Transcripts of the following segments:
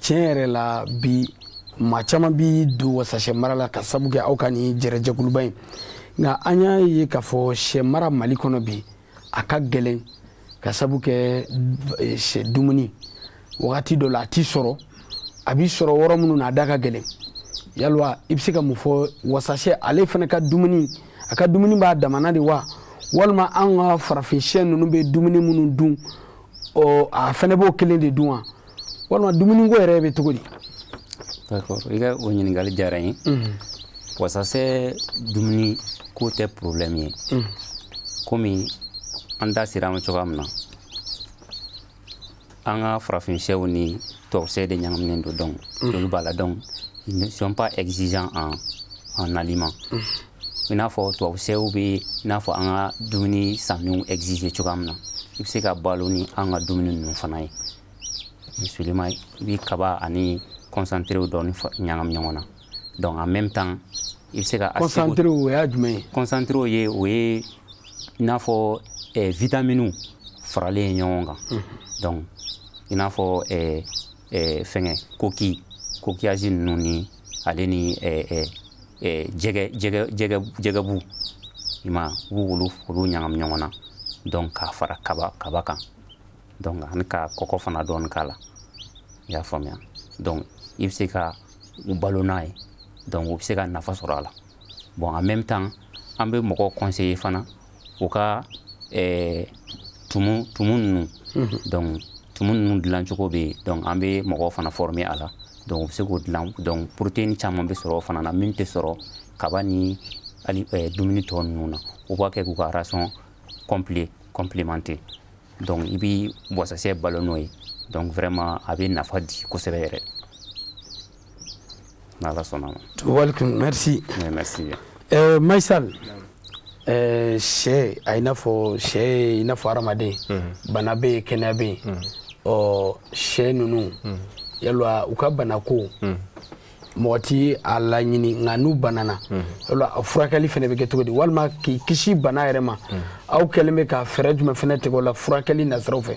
tiɲɛ yɛrɛ la bi maa caman bɛ don wasasɛ mara la k'a sabu kɛ aw ka nin jɛrɛjɛkuluba in nka an y'a ye k'a fɔ sɛ mara mali kɔnɔ bi a ka gɛlɛn k'a sabu kɛ eh, sɛ dumuni wagati dɔ la a tɛ sɔrɔ a bɛ sɔrɔ yɔrɔ minnu na a da ka gɛlɛn yala i bɛ se ka mun fɔ wasasɛ ale fana ka dumuni a ka dumuni b'a damana de wa walima an ka farafin sɛ ninnu bɛ dumuni minnu dun ɔ a fana b'o kelen de dun wa walima dumuni ko yɛrɛ bɛ cogo di i ka o ɲininkali diyara n ye mhm. wasasɛ dumuni ko tɛ problème ye mhm. komi an da sera a ma cogoya min na an ka farafin sɛw ni tubabu sɛ de ɲagaminen don donc mhm. joli b'a la donc ils ne sont pas exigeants en, en aliment i n'a fɔ tubabu sɛw bɛ i n'a fɔ an ka dumuni sanniw exiger cogoya min na i bɛ se k'a balo ni an ka dumuni ninnu fana ye misali la i bɛ kaba ani concentré dɔɔni ɲagami ɲɔgɔn na donc en même temps i bɛ se ka concentré o ye jumɛn ye concentré ye o ye i n'a fɔ eh, vitaminiw faralen ye ɲɔgɔn kan mhm. donc i n'a fɔ eh, eh, fɛnkɛ coqui coquillage ninnu ni ale ni jɛgɛbu i mana olu ɲagami ɲɔgɔn na donc k'a fara kaba kaba kan donc ani ka kɔkɔ fana dɔɔni k'a la i y'a faamuya donc i bɛ se ka u balo n'a ye donc u bɛ se ka nafa sɔrɔ a la bon en même temps an bɛ mɔgɔ conseiller fana u ka eh, tumu tumu ninnu donc tumu ninnu dilancogo bɛ yen donc an bɛ mɔgɔw fana former a la donc u bɛ se k'o dilan donc protéine caman bɛ sɔrɔ o fana na min tɛ sɔrɔ kaba ni hali eh, dumuni tɔ ninnu na u b'a kɛ k'u ka ration complet complémenter donc i bɛ wasasɛ balo n'o ye donc vraiment a bɛ nafa di kosɛbɛ yɛrɛ N'Ala sɔnna a ma. Walekum merci. Oui merci bien. Ɛɛ Mayi Sall ɛɛ sɛ a i n'a fɔ sɛ ye i n'a fɔ hadamaden bana bɛ yen kɛnɛya bɛ yen ɔ sɛ ninnu yala u ka banako mɔgɔ tɛ a laɲini nka n'u banana yala a furakɛli fana bɛ kɛ cogo di walima k'i kisi bana yɛrɛ ma aw kɛlen bɛ ka fɛɛrɛ jumɛn fana tigɛ o la furakɛli nasiraw fɛ.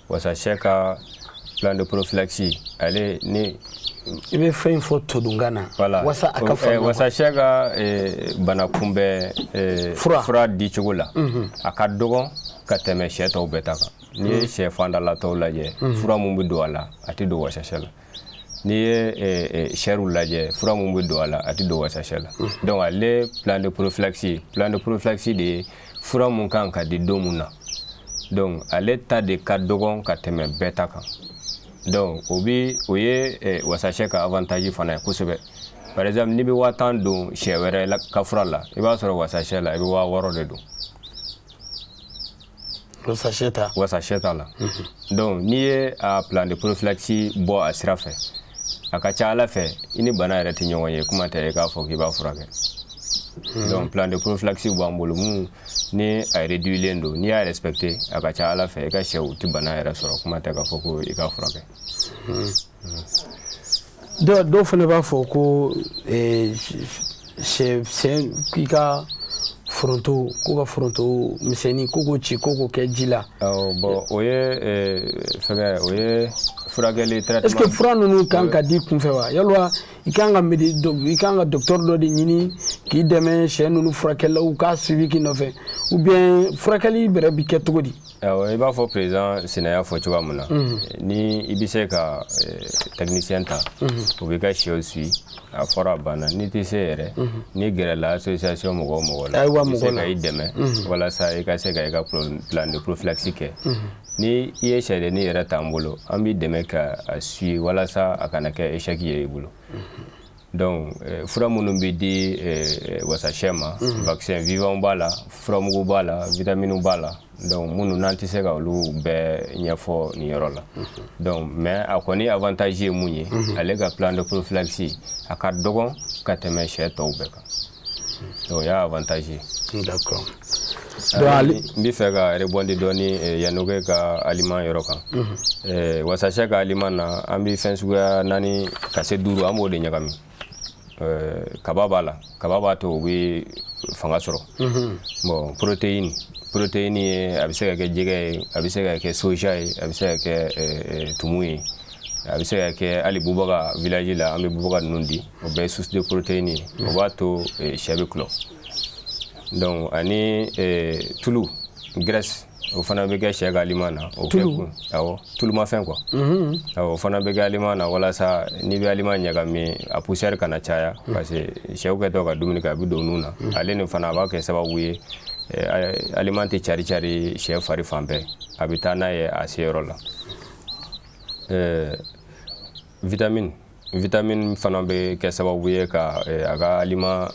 wasasɛ ka plan de prophylaxie ale ni i bɛ fɛn in fɔ todunkan na voilà. walasa a ka faamuya wasasɛ ka eh, bana kunbɛn eh, fura. fura dicogo la mm -hmm. a ka dɔgɔn ka tɛmɛ sɛ tɔw bɛɛ ta kan n'i ye sɛ fandala tɔw lajɛ fura min bɛ don a la a tɛ don wasasɛ la n'i ye eh, eh, sɛriw lajɛ fura mun bɛ don a la a tɛ don wasasɛ la mm-hmm. donc ale plan de prophylaxie plan de prophylaxie de ye fura mun kan ka di don mun na donc ale ta de ka dɔgɔn ka tɛmɛ bɛɛ ta kan donc o bi o ye eh, wasasɛ ka avantage fana ye kosɛbɛ par exemple n'i bɛ waa tan don sɛ wɛrɛ ka fura la i b'a sɔrɔ wasasɛ la i bɛ waa wɔɔrɔ de don wasasɛ ta la donc n'i ye plan de prophylaxie bɔ a sira fɛ a ka ca a la fɛ i ni bana yɛrɛ tɛ ɲɔgɔn ye kuma tɛ e k'a fɔ k'i b'a furakɛ donc plan de prophylaxie b'an bolo min ni a réduilen don n'i y'a respecter a ka ca a la fɛ i ka sɛw tɛ bana yɛrɛ sɔrɔ kuma tɛ k'a fɔ ko i k'a furakɛ dɔw fana b'a fɔ ko sɛ k'i ka foronto ko ka foronto misɛnnin ko k'o ci ko k'o kɛ ji la. awɔ bon o ye fɛngɛ o ye furakɛli traitement. est-ce que fura ninnu kan ka di kunfɛ wa yalwa i kan ka medi i kan ka docteur dɔ de ɲini k'i dɛmɛ sɛ ninnu furakɛli la u ka suivi k'i nɔfɛ ou bien furakɛli bɛrɛ bi kɛ cogo di. I b'a fɔ président Sina y'a fɔ cogoya min na ni i bɛ se ka technicien ta o b'i ka shɛw suivi a fɔra a banna n'i tɛ se yɛrɛ n'i gɛrɛla association mɔgɔ o mɔgɔ la ka i dɛmɛ walasa i ka se ka i ka plan de prophylaxie kɛ ni i ye shɛdennin yɛrɛ t'an bolo an b'i dɛmɛ ka suivi walasa a kana kɛ échec ye i bolo Donc eh, fura minnu bɛ di eh, eh, wasasɛ ma mhm. vaccin vivant b'a la furamugu b'a la vitamine b'a la donc minnu n'an tɛ se ka olu bɛɛ ɲɛfɔ nin yɔrɔ la mhm. donc mais a kɔni avantage ye mun ye mhm. ale ka plan de prophylaxie a ka dɔgɔn ka tɛmɛ sɛ tɔw bɛɛ kan o y'a avantage ye d'accord n bɛ fɛ ka rebondir dɔɔni eh, Yanogué ka aliment yɔrɔ kan mhm. eh, wasasɛ ka aliment na an bɛ fɛn suguya naani ka se duuru an b'o de ɲagami eh, kaba b'a la kaba b'a to u bɛ fanga sɔrɔ mhm. bon protéine protéine ye a bɛ se ka kɛ jɛgɛ ye a bɛ se ka kɛ soja ye a bɛ se ka kɛ tumu ye a bɛ se ka kɛ hali bubaga village la an bɛ bubaga ninnu di o bɛɛ ye source de protéine ye o b'a to eh, sɛ bɛ tulɔ donc ani eh, tulu graisse o fana bɛ kɛ sɛ ka aliment na o bɛɛ kun awɔ tulumafɛn quoi awɔ o fana bɛ kɛ aliment na walasa n'i bɛ aliment ɲagami a poussière kana caya parce que sɛw kɛtɔ ka dumuni kɛ a bɛ don nun na ale nin fana a b'a kɛ sababu ye eh, aliment tɛ cari cari sɛ fari fan bɛɛ a bɛ taa n'a ye a seyɔrɔ la Ɛɛ vitamine vitamine fana bɛ kɛ sababu ye ka eh, a ka aliment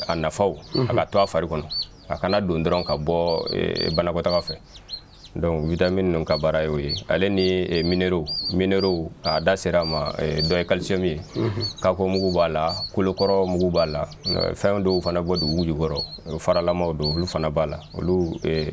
a nafaw a ka to a fari kɔnɔ a kana don dɔrɔn ka bɔ eh, banakɔtaga fɛ donc vitamine ninnu ka baara y'o ye ale ni eh, minéraux minéraux a da sera a ma eh, dɔ ye calcium ye kako mugu b'a la kolokɔrɔ mugu b'a la eh, fɛn dɔw fana bɔ dugu jukɔrɔ eh, faralamaw don olu fana b'a la olu eh,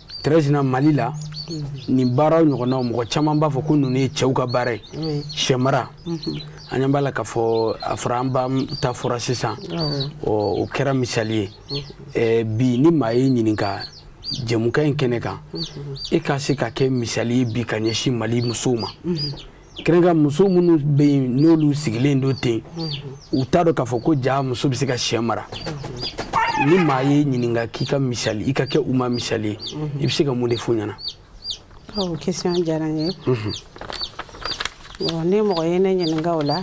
tɛrɛzina mali la nin baaraw ɲɔgɔnnaw mɔgɔ caman b'a fɔ ko ninnu ye cɛw ka baara ye shɛmara an ɲɛ b'a la k'a fɔ a fɔra an ba ta fɔra sisan o kɛra misali ye bi ni maa y'i ɲininka jɛmukan in kɛnɛ kan e ka se ka kɛ misali ye bi ka ɲɛsin mali musow ma kɛrɛnkɛrɛn muso minnu bɛ yen n'olu sigilen don ten u t'a dɔn k'a fɔ ko ja muso bɛ se ka shɛ mara ni maa y'i ɲininka k'i ka misali i ka kɛ u ma misali ye i bɛ se ka mun de f'u ɲɛna. o question diyara n ye. bon ni mɔgɔ ye ne ɲininka o la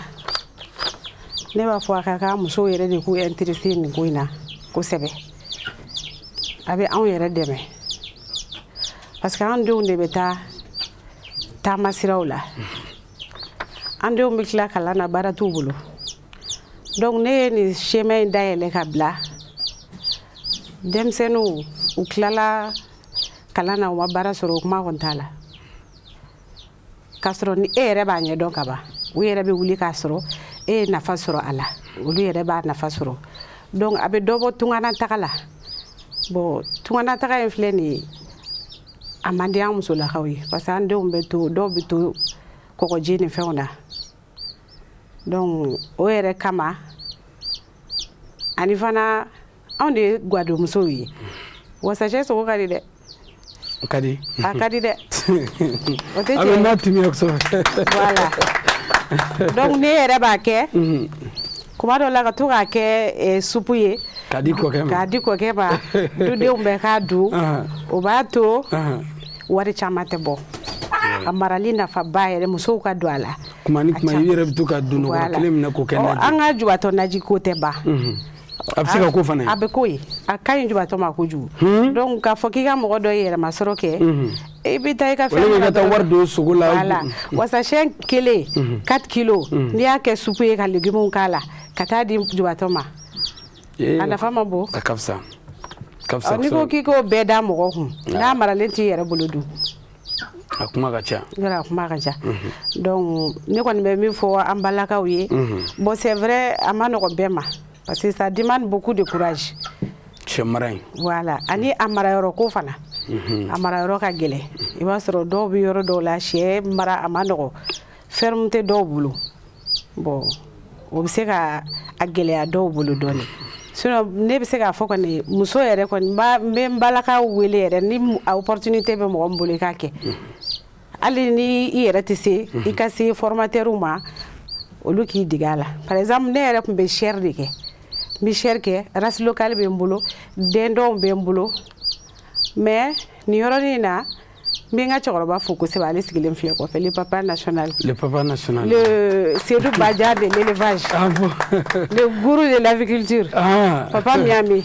ne b'a fɔ a ka kan musow yɛrɛ de k'u intéresser nin ko in na kosɛbɛ a bɛ anw yɛrɛ dɛmɛ parce que an denw de bɛ taa. taama siraw la an denw bɛ tila kalan na baara t'u bolo donc ne ye nin chemin in dayɛlɛ ka bila denmisɛnninw u tilala kalan na u ma baara sɔrɔ o kuma kɔni t'a la k'a sɔrɔ ni e yɛrɛ b'a ɲɛdɔn ka ban u yɛrɛ bɛ wuli k'a sɔrɔ e ye nafa sɔrɔ a la olu yɛrɛ b'a nafa sɔrɔ donc a bɛ dɔ bɔ tunganataga la bon tunganataga in filɛ nin ye a man di an musolakaw ye parce que an denw bɛ to dɔw bɛ to kɔgɔji ni fɛnw na donc o yɛrɛ kama ani fana anw de ye gwadomusow ye wasashɛ sogo ka di dɛ a ka di a ka di dɛ o tɛ tiɲɛ ye n'a timiya kosɛbɛ voilà donc ne yɛrɛ b'a kɛ kuma dɔ la ka to k'a kɛ eh, supu ye k'a di kɔkɛ ma k'a di kɔkɛ ma dudenw bɛɛ k'a dun o b'a to wari caman tɛ bɔ a marali nafaba yɛrɛ musow ka don a la kuma ni kuma i yɛrɛ bɛ to ka dononkɔrɔ kelen minɛ k'o kɛ naji an ka jubatɔ naji ko tɛ ban a bɛ se ka ko fana a bɛ ko ye a ka ɲi jubatɔ ma kojugu donc k'a fɔ k'i ka mɔgɔ dɔ ye yɛrɛmasɔrɔ kɛ i bɛ taa i ka fɛn ka taa wari don sogo la wala wasashɛ kelen mhm. quatre kilos mhm. n'i y'a kɛ supu ye ka légumes k'a la ka taa di jubatɔ ma eh, a nafa man bon a ka fisa n'i ko k'i k'o bɛɛ da mɔgɔ kun n'a maralen t'i yɛrɛ bolo dun a kuma ka ca yɔrɔ a kuma ka ca mhm. donc ne kɔni bɛ min fɔ an balakaw ye bon c'est vrai a man nɔgɔn bɛɛ ma parce que ça demande beaucoup de courage sɛ mara in voilà ani a mara yɔrɔ ko fana mhm. a mara yɔrɔ ka gɛlɛ i b'a sɔrɔ dɔw bɛ yɔrɔ dɔw la sɛ mara a ma nɔgɔ ferme tɛ dɔw bolo bon o bɛ se ka a gɛlɛya dɔw bolo dɔɔnin sinon ne bɛ se k'a fɔ kɔni muso yɛrɛ kɔni n bɛ n balakaw wele yɛrɛ ni opportunité bɛ mɔgɔ min bolo i k'a kɛ mhm. hali ni i yɛrɛ tɛ se i ka se formateurw ma olu k'i dege a la par exemple ne yɛrɛ tun bɛ chair de kɛ n bɛ chair kɛ race locale bɛ n bolo dindon bɛ n bolo mais nin yɔrɔnin in na n bɛ n ka cɛkɔrɔba fo kosɛbɛ ale sigilen filɛ kɔfɛ le papa national le papa national le Seydou Badian de l'élevage ah bon le gourou de l'aviculture ah. papa Miami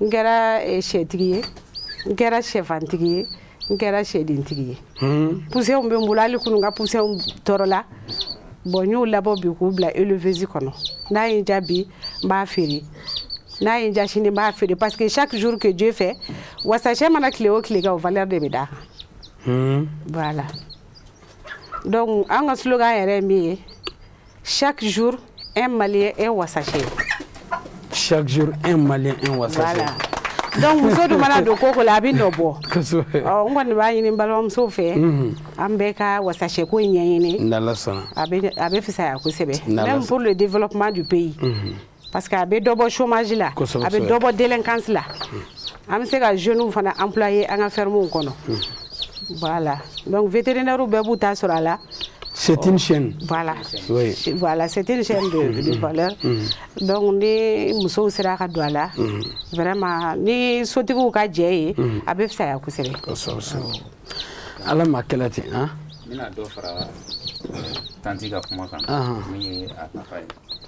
n kɛra eh, sɛtigi ye n kɛra sɛfantigi ye n kɛra sɛdentigi ye hmm. poussinw bɛ n bolo hali kunu n ka poussinw tɔrɔla bon n y'o labɔ bi k'u bila éleveuse kɔnɔ n'a ye n diya bi n b'a feere n'a ye n diya sini n b'a feere parce que chaque jour que dieu fait wasasɛ mana tile o tile kɛ o valeur de bɛ d'a kan hmm. voilà donc an ka slogan yɛrɛ ye min ye Chaque jour, un Malien un wassaché. Chaque jour, un Malien un wassaché. Voilà. donc muso dun mana don ko o ko la a bɛ nɔ bɔ n kɔni b'a ɲini balimamusow fɛ mhm. an bɛɛ ka wasasɛ ko in ɲɛɲini a bɛ fisaya kosɛbɛ même pour le développement du pays mhm. parce que a bɛ dɔ bɔ chômage la a bɛ dɔ bɔ délinquance la an bɛ se ka jeunes fana employer an ka fermes kɔnɔ voilà donc vétérinaire bɛɛ b'u ta sɔrɔ a la c'est une chaîne voilà oui. voilà c'est une chaîne de, mm-hmm. de valeur mm-hmm. donc ni musow sera ka don a la mm-hmm. vraiment ni sotigiw ka jɛn ye a bɛ fisaya kosɛbɛ ala m'a kɛra ten an n bɛna dɔ fara tanti ka kuma kan min ye a nafa ye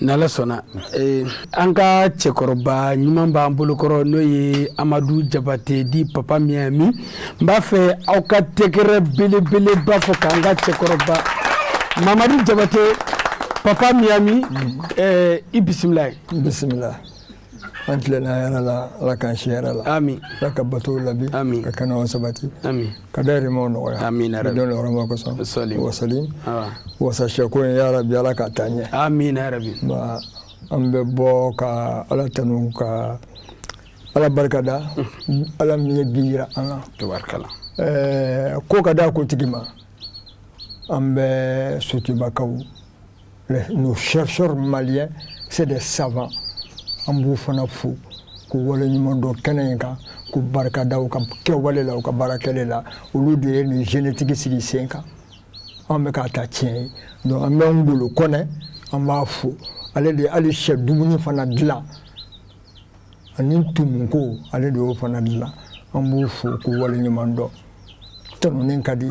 ni ala sɔnna eh, an ka cɛkɔrɔba ɲuman b'an bolokɔrɔ n'o ye amadu jabate dit papa miami n b'a fɛ aw ka tɛgɛrɛ belebeleba fɔ k'an ka cɛkɔrɔba mamadu jabate papa miami eh, i bisimila ye bisimila an tilenna hɛrɛ la ala k'an si hɛrɛ la ami ala ka batow labi ami ka kɛnɛw sabati ami ka dahirimɛw nɔgɔya amiina don yɔrɔ ma kosɔn wasali wasali wasasɛ ko in yarabi ala k'a taa ɲɛ amiina yarabi ba an bɛ bɔ ka ala tanu ka ala barika da ala min ye bi yira an na tabarikala ɛɛ ko ka da ko tigi ma an bɛ sotubakaw Nous chercheurs maliens, c'est des savants. An b'u fana fo k'u waleɲuman dɔn kɛnɛ in kan k'u barika da u ka kɛwale la u ka baara kɛlen na olu de ye nin génétique sigi sen kan an bɛ k'a ta tiɲɛ ye donc an bɛ Ngolo Kɔnɛ an b'a fo ale de ye hali sɛ dumuni fana dilan ani tumuko ale de y'o fana dilan an b'u fo k'u waleɲuman dɔn tɔnɔni ka di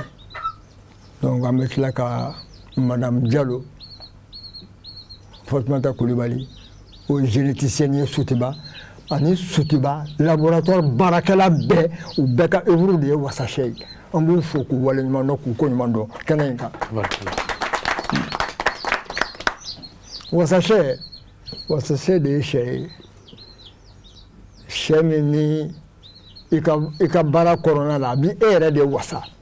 donc an bɛ tila ka madame jalo fatumata kulibali o ye généticienne ye sotuba ani sotuba laboratoire baarakɛla bɛɛ u bɛɛ ka œuvre de ye wasasɛ ye an b'u fo k'u waleɲuman dɔn k'u ko ɲuman dɔn kɛnɛ in kan wasasɛ wasasɛ de ye sɛ ye sɛ min ni i ka i ka baara kɔnɔna la a b'i yɛrɛ de wasa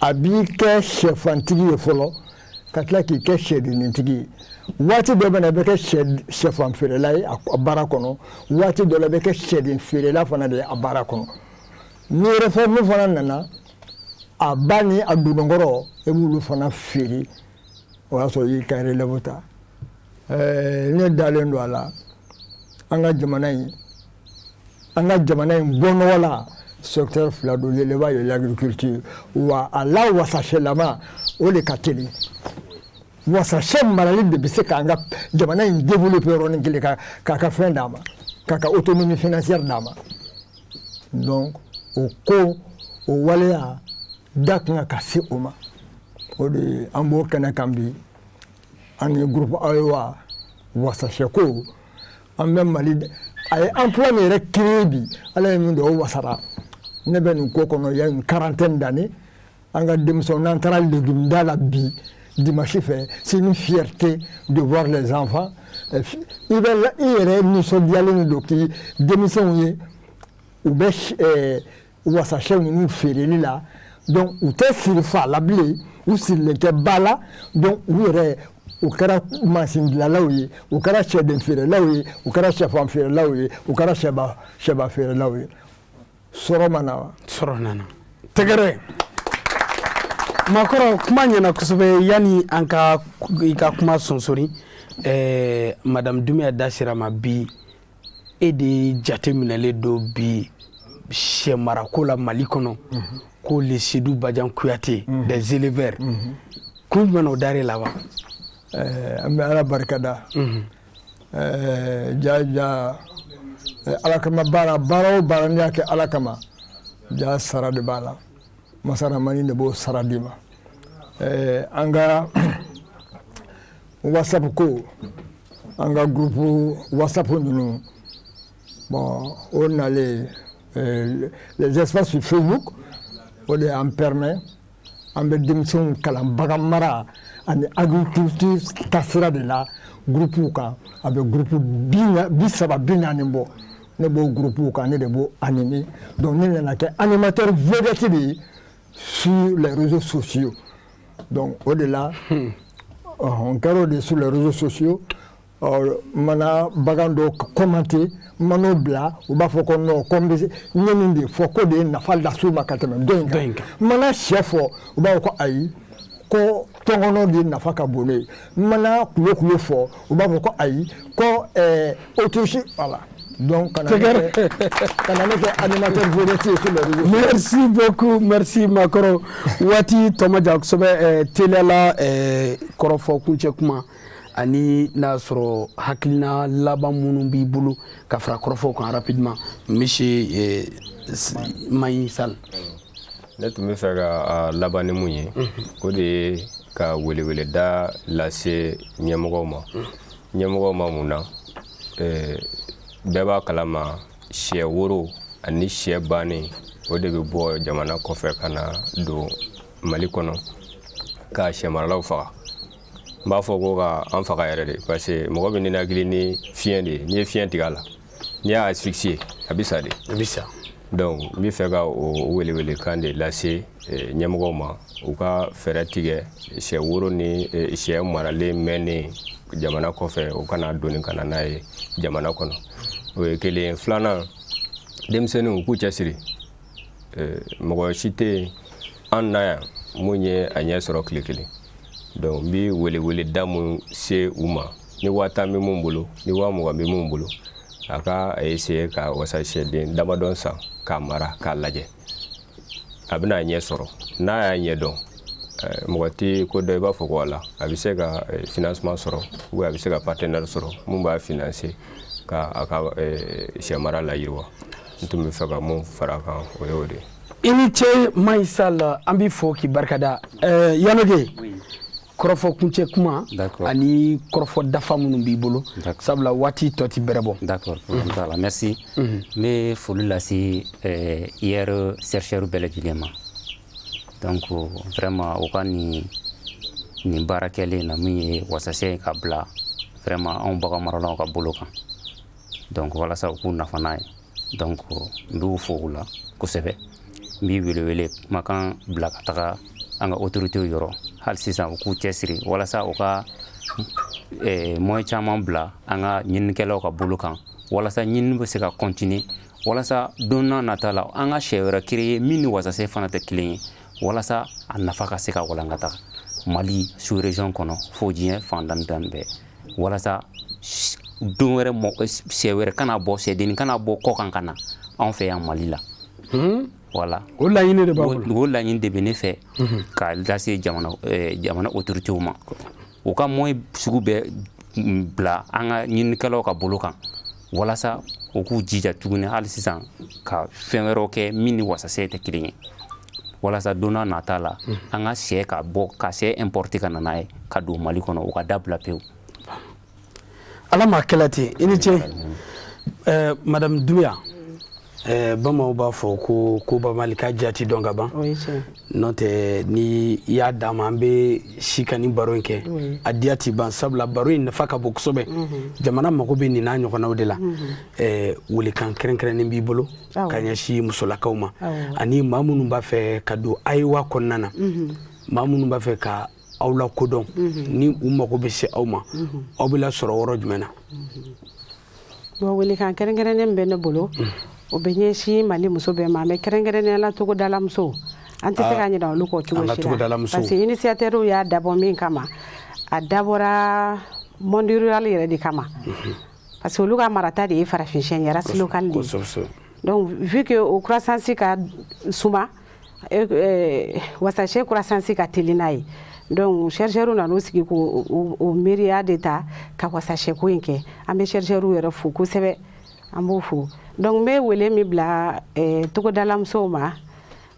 a b'i kɛ shɛfantigi ye fɔlɔ ka tila k'i kɛ sɛdentigi ye waati dɔ bɛ yen i bɛ kɛ shɛfan feerela ye a baara kɔnɔ waati dɔ la i bɛ kɛ sɛden feerela fana de ye a baara kɔnɔ n'i yɛrɛ fɛn min fana nana a ba ni a dononkɔrɔ e b'olu fana feere o y'a sɔrɔ y'i ka yɛrɛ ta ne dalen don a la an ka jamana in an ka jamana in bɔnɔgɔla secteur fila don l'élevage et l'agriculture wa a la wasaselama o de ka teli wasasɛ marali de bɛ se k'an ka jamana in développer yɔrɔnin kelen ka k'a ka fɛn d'a ma k'a ka autonomie financière d'a ma donc o ko o waleya da kan ka se o ma o de an b'o kɛnɛ kan bi an ni groupe ayewa wasasɛko an bɛ mali a ye emploi min yɛrɛ créer bi ala ye min don o wasara ne bɛ nin ko kɔnɔ y a une quarantaine d'années an ka denmisɛnw n'an taara legumida la bi dimanche fɛ c'est une fierté de voir les enfants euh, i bɛ i yɛrɛ nisɔndiyalen de don k'i denmisɛnw ye u bɛ wasasɛ ninnu feereli la donc u tɛ siri fa la bilen u sirilen tɛ ba la donc u yɛrɛ u kɛra mansin dilanlaw ye u kɛra sɛden feerelaw ye u kɛra sɛfan feerelaw ye u kɛra sɛba sɛba feerelaw ye sɔrɔ ma na wa sɔrɔ nana tɛgɛrɛ makɔrɔ kuma ɲɛna kosɛbɛ yanni an ka i ka kuma sonsori eh, madame dunbiya da sira ma bi e de jate minɛlen don bi sɛ marako la mali kɔnɔ ko le sedu bajan kuyate des éleveurs kun jumɛn na o dara e la wa an bɛ ala barika da jaja ala kama baara baara o baara n'i y'a kɛ ala kama ja sara de b'a la masa ramani de b'o sara d'i ma an ka whatsapp ko an ka gurupu whatsapp ninnu bon o ani les eh, les espaces sur facebook o de y'an permet an bɛ denmisɛnw kalan bagan mara ani agriculture taasira de la gurupuw kan a bɛ gurupu bi saba bi naani bɔ ne b'o gurupuw kan ne de b'o animer donc ne nana kɛ animateur vedette de ye sur les réseaux sociaux donc o de la n kɛra o de sur les réseaux sociaux n mana bagan dɔ commenter n man'o bila u b'a fɔ ko non ko n bɛ n ye nin de fɔ k'o de ye nafa las'u ma ka tɛmɛ dɔ in kan n mana sɛ fɔ u b'a fɔ ko ayi ko tɔnkɔnɔ de nafa ka bon ne ye mana kulokulo fɔ u b'a fɔ ko ayi ko autruche voilà donc ka na ne kɛ ka na ne kɛ animateur vedette ye ko dɔ merci beaucoup merci makɔrɔ waati tɔ ma jan kosɛbɛ teliya la kɔrɔfɔ kuncɛ kuma ani n'a sɔrɔ hakilina laban minnu b'i bolo ka fara kɔrɔfɔw kan rapidement monsieur mayi sal ne tun bɛ fɛ ka laban ni mun ye o de ye ka weleweleda lase ɲɛmɔgɔw ma ɲɛmɔgɔw ma mun na bɛɛ b'a kalama sɛ woro ani sɛ bannen o de bɛ bɔ jamana kɔfɛ ka na don mali kɔnɔ ka sɛmaralaw faga n b'a fɔ ko ka an faga yɛrɛ de parce que mɔgɔ bɛ ninakili ni fiɲɛ de ye n'i ye fiɲɛ tigɛ a la N'i y'a asphyxier a bɛ sa de. A bɛ sa. Donc n bɛ fɛ ka o welewelekan de lase eh, ɲɛmɔgɔw ma u ka fɛɛrɛ tigɛ sɛ woro ni eh, sɛ maralen mɛnnen jamana kɔfɛ u kana doni ka na n'a ye jamana kɔnɔ o ye kelen ye filanan denmisɛnninw u k'u cɛsiri eh, mɔgɔ si tɛ yen an na yan mun ye a ɲɛ sɔrɔ tile kelen donc n bɛ weleweleda mun se u ma ni waa tan bɛ mun bolo ni waa mugan bɛ mun bolo a ka a essayer ka wasasɛden damadɔn san k'a mara k'a lajɛ a bɛna a ɲɛ sɔrɔ n'a y'a ɲɛ dɔn eh, mɔgɔ tɛ ko dɔ i b'a fɔ ko a la a bɛ se ka eh, financement sɔrɔ ou a bɛ se ka partenaire sɔrɔ mun b'a financer ka a ka eh, sɛ mara layiriwa n tun bɛ fɛ ka mun fara a kan o y'o de ye i ni ce mayi sal an b'i fo k'i barika da yanoge kɔrɔfɔ kuncɛ kuma ani kɔrɔfɔ dafa minnu b'i bolo sabula waati tɔ ti bɛrɛ bɔ d'accord problème t'a la merci n bɛ foli lase IER euh, chercheur bɛɛ lajɛlen ma donc vraiment u ka nin nin baara kɛlen na min ye wasasɛ ka bila vraiment anw bagan maralaw ka bolo kan donc walasa u k'u nafa n'a ye donc n b'u fo o la kosɛbɛ n bi welewele kumakan bila ka taga an ka autoritew yɔrɔ hali sisan u k'u cɛsiri walasa u ka eh, moyen caman bila an ka ɲininikɛlaw ka bolo kan walasa ɲinini bɛ se ka continuer walasa don nata la an ka sɛ wɛrɛ créer min ni wasase fana tɛ kelen ye walasa a nafa ka se ka walankata mali sous région kɔnɔ fo diɲɛ fan tan ni naani bɛɛ walasa don wɛrɛ sɛ wɛrɛ kana bɔ sɛdennin kana bɔ kɔkan ka na anw fɛ yan mali la hmm? voilà o laɲini de b'a o laɲini de bɛ ne fɛ hmm. ka lase jamana eh, jamana autoritew ma u ka moyen sugu bɛɛ bila an ka ɲinikɛlaw ka bolo kan walasa u k'u jija tuguni hali sisan ka fɛn wɛrɛw kɛ min ni wasasɛ tɛ kelen ye walasa don nata la hmm. an ka sɛ ka bɔ ka sɛ importer ka na n'a ye ka don mali kɔnɔ o ka dabila pewu ala m'a kɛla ten i ni ce madame Doumbia Eh, bamananw b'a fɔ ko ko bamali ka jati dɔn ka ban n'o tɛ ni i y'a d'an ma an bɛ si ka nin baro in kɛ a diya tɛ ban sabula baro in nafa ka bon kosɛbɛ jamana mago bɛ nin n'a ɲɔgɔnnaw de la eh, welekan kɛrɛnkɛrɛnnen b'i bolo ka ɲɛsin musolakaw ma ani maa minnu b'a fɛ ka don ayiwa kɔnɔna na maa minnu b'a fɛ ka aw la ko dɔn ni u mago bɛ se aw ma aw bɛ lasɔrɔ yɔrɔ jumɛn na Bon welekan kɛrɛnkɛrɛnnen bɛ ne bolo o bɛ ɲɛsin mali muso bɛɛ ma mais kɛrɛnkɛrɛnnen la togodalamuso an tɛ se ka ɲina olu kɔ cogo parce que initiateurw y'a dabɔ min kama a dabɔra monde rural yɛrɛ de kama parce que olu ka marata de ye farafinsyɛ race locale donc vu que o croissance ka suma e, e, wasashɛ croissance ka teli n'a ye donc chercheurs nan'u sigi k'o o miiriya de ta ka wasashɛ ko in kɛ an bɛ chercheurs yɛrɛ fo kosɛbɛ an b'u fo donc n bɛ wele min bila e, togodala musow ma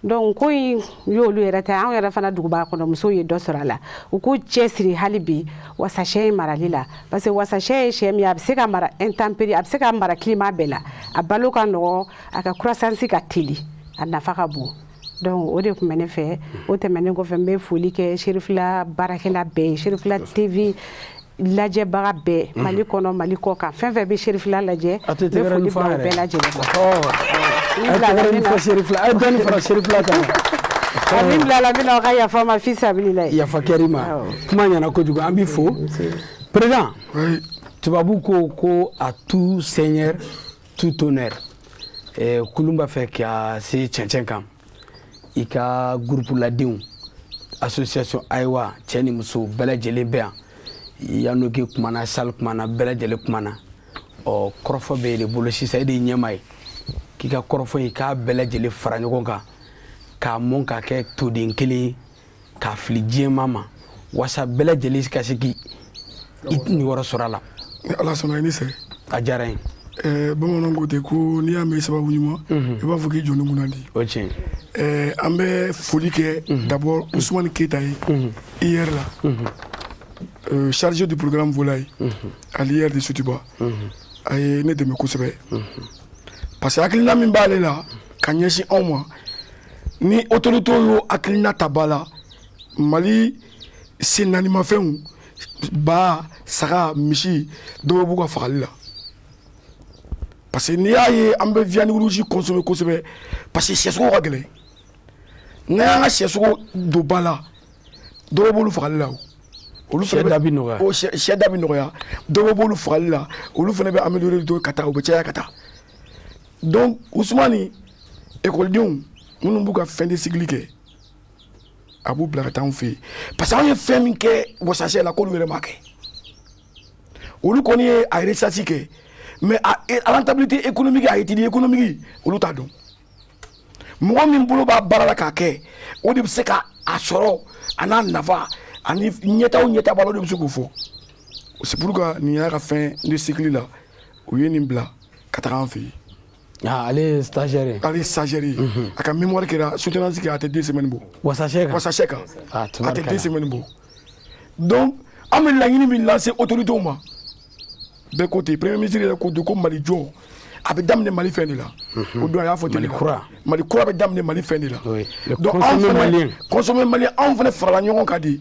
donc ko in y'olu yɛrɛ ta anw yɛrɛ fana duguba kɔnɔ musow ye dɔ sɔrɔ a la u k'u cɛsiri hali bi wasasɛ marali la parce que wasasɛ ye sɛ min ye a bɛ se ka mara intempérie a bɛ se ka mara climat bɛɛ la a balo ka nɔgɔn a ka croissance ka teli a nafa ka bon donc o de tun bɛ ne fɛ o tɛmɛnen kɔfɛ n bɛ foli kɛ serifila baarakɛla bɛɛ ye serifila tv lajɛbaga bɛɛ mhm. mali kɔnɔ mali kɔ kan fɛn fɛn bɛ serifila lajɛ n bɛ foli bila o bɛɛ lajɛlen ma a min bilala min na aw ka yafa ma fi sabilila yafa kɛr'i ma kuma ɲɛna kojugu an b'i fo président tubabu ko ko à tout seigneur tout honneur eh, kulun b'a fɛ ka se cɛncɛn kan i ka gurupu ladenw association ayiwa cɛ ni muso bɛɛ lajɛlen bɛ yan yanoki kumana sal kumana bɛɛ lajɛlen kumana ɔ kɔrɔfɔ b'e de bolo sisan e de ye ɲɛmaa ye k'i ka kɔrɔfɔ in k'a bɛɛ lajɛlen fara ɲɔgɔn kan k'a mɔn k'a kɛ toden kelen ye k'a fili diɲɛmaa ma wasa bɛɛ lajɛlen ka se k'i niyɔrɔ sɔrɔ a la ni ala sɔnna i ni ce a diyara n ye bamananw ko ten ko n'i y'a mɛn sababu ɲuman mhm. i b'a fɔ k'i jɔni kunnandi o tiɲɛ an bɛ foli kɛ mhm. d'abord usumani keyita ye mhm. ier la chargé du programme volaille à l'ier de sotuba a ye ne dɛmɛ kosɛbɛ parce que hakilina min b'ale la ka ɲɛsin anw ma ni autorités y'o hakilina ta ba la mali sennaanimafɛnw ba saga misi dɔ bɔ u ka fagali la parce que n'i y'a ye an bɛ viande rouge consommer kosɛbɛ parce que sɛsogo ka gɛlɛn n'an y'an ka sɛsogo don ba la dɔ bɔ olu fagali la o olu fana da bi nɔgɔya o sɛ da bi nɔgɔya dɔ bɔ olu fagali la olu fana bɛ améliorer dɔɔni ka taa u bɛ caya ka taa donc usumani ekɔlidenw minnu b'u ka fin de cycle kɛ a b'u bila ka taa anw fɛ yen parce que anw ye fɛn min kɛ wasasɛ la k'olu yɛrɛ m'a kɛ olu kɔni ye a recherche kɛ mais a rentabilité économique a étude économique olu t'a dɔn mɔgɔ min bolo b'a baara la k'a kɛ o de bɛ se ka a sɔrɔ a n'a nafa ani ɲɛtaa o ɲɛtaa b'a la o de bɛ se k'o fɔ c'est pour que nin y'a ka fin de cycle la u ye nin bila ka taga an fɛ yen Ah, ale ye stagiaire ye ale ye stagiaire ye a ka mémoire kɛra soutenance kɛ a tɛ deux semaines bɔ wasasɛ kan wasasɛ kan Ah, a tɛ tubarikala. deux semaines bɔ donc an bɛ laɲini min lase autorités ma bɛɛ ko ten premier ministre yɛrɛ ko don ko mali jɔ a bɛ daminɛ mali fɛn de la o don a y'a fɔ ten Mali de. kura. mali kura bɛ daminɛ mali fɛn de la Oui. Le donc anw consommé fana malien. consommé malien anw fana farala ɲɔgɔn kan de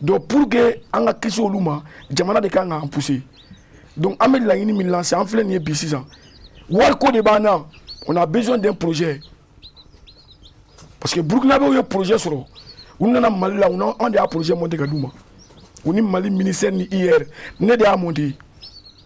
donc pour que an ka kisi olu ma jamana de ka kan k'an pousser donc an bɛ laɲini min lancer an filɛ nin ye bi sisan wariko de b'an na on a besoin d'un projet parce que burukinabew ye projet sɔrɔ u nana mali la u na an de y'a projet monter ka d'u ma u ni mali ministère ni ier ne de y'a monter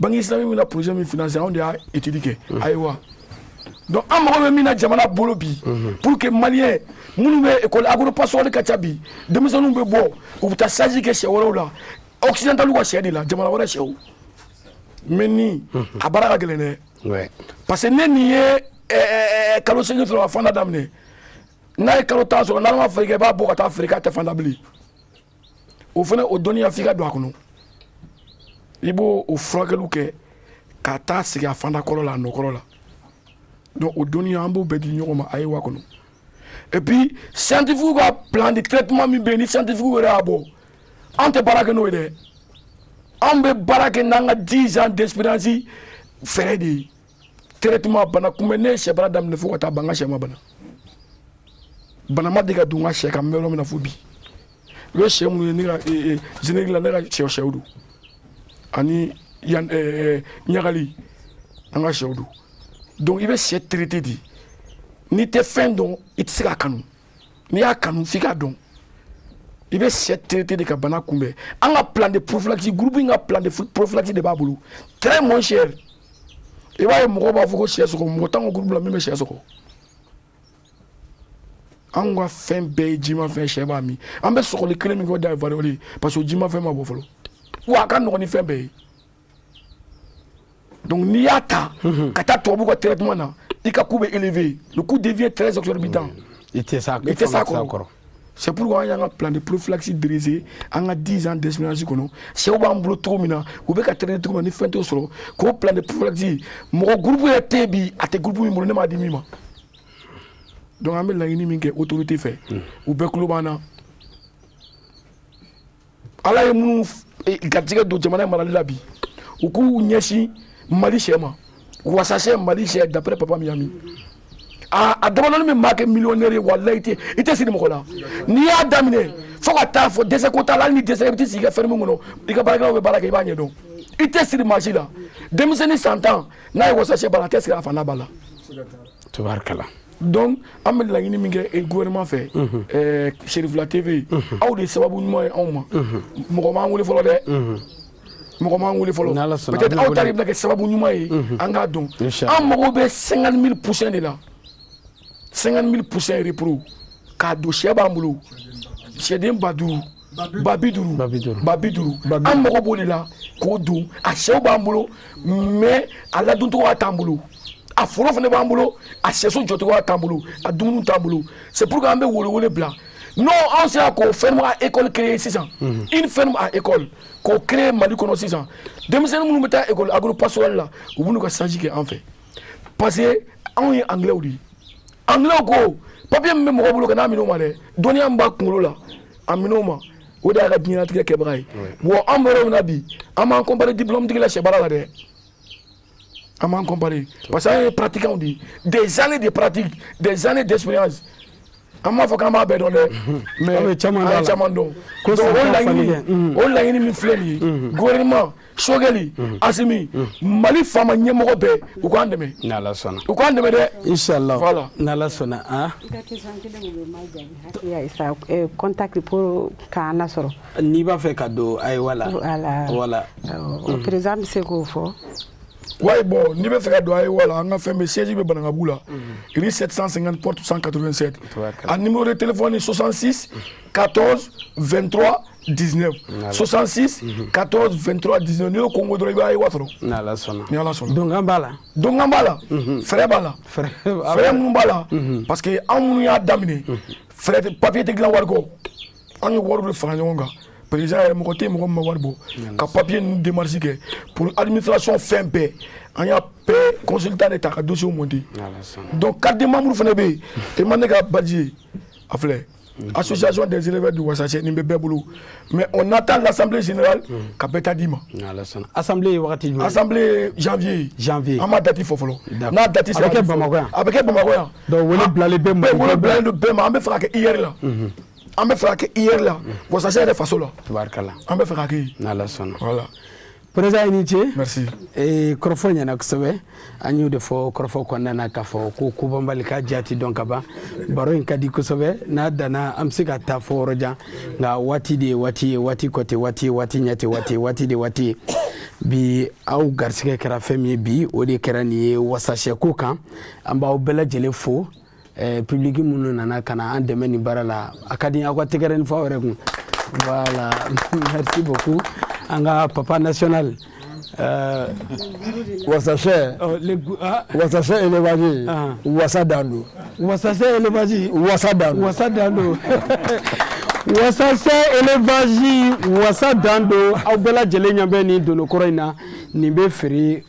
banque islamique bɛna projet min financer anw de y'a étude kɛ ayiwa donc an mago bɛ min na jamana bolo bi pour que maliyɛn minnu bɛ école agropastorale ka ca bi denmisɛnninw bɛ bɔ u bɛ taa stage kɛ sɛ wɛrɛw la occidentaliw ka sɛ de la jamana wɛrɛ sɛw mɛ ni a baara ka gɛlɛn dɛ parce que ni nin ye eh, eh, eh, kalo seegin sɔrɔ ka fanda daminɛ n'a ye kalo tan sɔrɔ n'ala ma fɛɛrɛ kɛ i b'a bɔ ka taa feere k'a tɛ fanda bilen o fana o dɔnniya f'i ka don a kɔnɔ i b'o o furakɛliw kɛ ka taa segin a fanda kɔrɔ la a nɔ kɔrɔ la donc o dɔnniya an b'o bɛɛ di ɲɔgɔn ma ayiwa kɔnɔ et puis scientifiquew ka plan de traitement min bɛ yen ni scientifique yɛrɛ y'a bɔ an tɛ baara kɛ n'o ye dɛ an bɛ baara kɛ n'an ka 10 ans d'expérience fɛɛrɛ de ye traitement bana kunbɛn ne ye sɛ baara daminɛ fo ka taa ban n ka sɛ ma bana bana ma deli ka don n ka sɛ kan n bɛ yɔrɔ min na fo bi u ye sɛ minnu ye ne ka générique la ne ka sɛ sɛw don ani yan ɲagali an ka sɛw don donc i bɛ sɛ traité de n'i tɛ fɛn dɔn i tɛ se k'a kanu n'i y'a kanu f'i k'a dɔn i bɛ sɛ traité de ka bana kunbɛn an ka plan de prophylaxie groupe in ka plan de prophylaxie de b'a bolo très moins cher i b'a ye mɔgɔw b'a fɔ ko sɛ sɔgɔ mɔgɔ t'an ka groupe la min bɛ sɛ sɔgɔ an ka fɛn bɛɛ ye jimafɛn sɛ b'a min an bɛ sɔgɔli kelen min kɛ o de ye variole ye parce que o jimafɛn ma bɔ fɔlɔ wa a ka nɔgɔn ni fɛn bɛɛ ye donc n'i y'a ta ka taa tubabu ka traitement na i ka coût bɛ élevé le coût devient très exorbitant i tɛ s'a i tɛ s'a kɔrɔ c'est pourquoi an y'an ka plan de prophylaxie diriger an ka 10 ans d'expérience kɔnɔ sɛw b'an bolo cogo min na u bɛ ka traîner cogo min na ni fɛn t'u sɔrɔ k'o plan de prophylaxie mɔgɔ groupe yɛrɛ tɛ yen bi a tɛ groupe min bolo ne m'a di min ma donc an bɛ laɲini min kɛ autorité fɛ u bɛɛ tulo b'an na ala ye minnu eh, garijɛgɛ don jamana marali la bi u k'u ɲɛsin mali sɛ ma wasasɛ mali sɛ d'après papa miyami a a damadɔnin bɛ maa kɛ miliyɔnɛri ye walayi i tɛ i tɛ siri mɔgɔ la n'i y'a daminɛ fo ka taa fɔ dɛsɛ ko t'a la hali n'i dɛsɛ i bɛ t'i sigi i ka ferme kɔnɔ i ka baarakɛlaw bɛ baara kɛ i b'a ɲɛdɔn i tɛ siri maa si la denmisɛnnin san tan n'a ye wasasɛ baara a tɛ siri a fa n'a ba la tubaarikala donc an bɛ laɲini min kɛ eh, gouvernement fɛ mhm. eh, chérifla tv mhm. aw de sababu ɲuman ye anw ma mhm. mɔgɔ m'an wele fɔlɔ dɛ mɔgɔ m'an wele fɔlɔ peut-être aw ta de bɛna kɛ sababu ɲuman ye an k'a dɔn an mago bɛ 50 000 poussins de la 50 000 poussins repro k'a don sɛ b'an bolo sɛden ba duuru ba bi duuru ba bi duuru ba bi duuru an mago b'o de la k'o don a sɛw b'an bolo mais a ladoncogoya t'an bolo a foro fana b'an bolo a sɛso jɔcogoya t'an bolo a dumuni t'an bolo c'est pour que an bɛ welewele bila n'o anw sera k'o ferme à école créer sisan mhm. une ferme à école k'o créer mali kɔnɔ sisan denmisɛnnin minnu bɛ taa école agro pastorale la u bɛ n'u ka stage kɛ an fɛ parce que anw ye anglais de ye anglais ko papier min bɛ mɔgɔ bolo kan'a minɛ o ma dɛ dɔnniya min b'a kunkolo la a minɛ o ma o de y'a ka diɲɛlatigɛ kɛbaga ye wa an bɔra o na bi an m'an comparer diplôme tigi la sɛbaara la dɛ an m'an comparer parce que an ye pratiquants de ye des années de pratique des années d'expérience an m'a fɔ k'an b'a bɛɛ dɔn dɛ mais an ye caman dɔn caman dɔn donc o laɲini o laɲini min filɛ nin ye gouvernement sogɛli asimi mali faama ɲɛmɔgɔ bɛɛ u k'an dɛmɛ n'ala sɔnna u k'an dɛmɛ dɛ inshallah voilà n'ala sɔnna an contact pour k'an lasɔrɔ n'i b'a fɛ ka don AEWA la voilà président bɛ se k'o fɔ ouais bon n'i bɛ fɛ ka don AEWA la an ka fɛn bɛ siège bɛ banankabu la rue 750 porte 187 a numéro de téléphone 66 14 23 19 66 14 23 19 n'i y'o kɔnkɔn dɔrɔn i bɛ AEWA sɔrɔ ni ala sɔnna ni ala sɔnna donkan b'a la donkan b'a la frais b'a la frais minnu b'a la parce que anw minnu y'a daminɛ frais papier tɛ dilan wari kɔ an ye wari de fara ɲɔgɔn kan président yɛrɛ mɔgɔ tɛ mɔgɔ min ma wari bɔ ka papier ninnu démarche kɛ pour administration fɛn bɛɛ an y'a bɛɛ consultant de ta ka dossier monter donc carte de membre fana bɛ yen e ma ne ka badge ye a filɛ association des éleveurs du Wassaché nin bɛ bɛɛ bolo mais on attend l'assemblée générale ka bɛɛ ta d'i ma assemblée ye wagati jumɛn assemblée ye janvier janvier an ma date fɔ fɔlɔ n'a date sera a bɛ kɛ Bamakɔ yan a bɛ kɛ Bamakɔ yan donc wele bilalen bɛɛ ma wele bilalen don bɛɛ ma an bɛ fɛ k'a kɛ IER la an bɛ fɛ ka kɛ IER la wasasɛ yɛrɛ faso la tabarikala an bɛ fɛ ka kɛ n'ala sɔnna voilà président i ni ce merci ee kɔrɔfɔ ɲɛna kosɛbɛ an y'o de fɔ kɔrɔfɔ kɔnɔna na k'a fɔ ko kobanbali ka jati dɔn ka ban baro in ka di kosɛbɛ n'a danna an bɛ se ka taa fo yɔrɔ jan nka waati de ye waati ye waati kɔ tɛ waati ye waati ɲɛ tɛ waati ye waati de waati ye bi aw garisigɛ kɛra fɛn min ye bi o de kɛra nin ye wasasɛko kan an b'aw bɛɛ lajɛlen fo eh, public minnu nana ka na an dɛmɛ nin baara la a ka di aw ka tɛgɛrɛnin fɔ aw yɛrɛ kun voilà merci beaucoup an ka papa national euh, wasasɛ oh, ah. wasasɛ élevage ah. wasa dan don wasasɛ élevage wasa dan don wasa dan don wasasɛ élevage wasa dan don aw bɛɛ lajɛlen ɲɛ bɛ nin dononkɔrɔ in na nin bɛ feere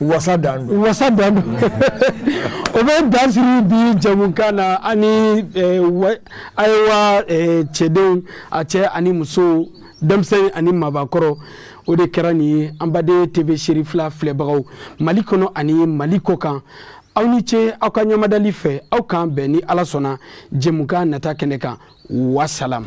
wasa dan don wasa dan don o bɛ dan sigi bi jɛmukan na ani ayiwa cɛdenw a cɛ ani muso denmisɛnnin ani mɔgɔkɔrɔ o de kɛra nin ye an baden TV Cherifla filɛbagaw mali kɔnɔ ani mali kɔkan aw ni ce aw ka ɲɛmadali fɛ aw k'an bɛn ni ala sɔnna jɛmukan nata kɛnɛ kan wasalam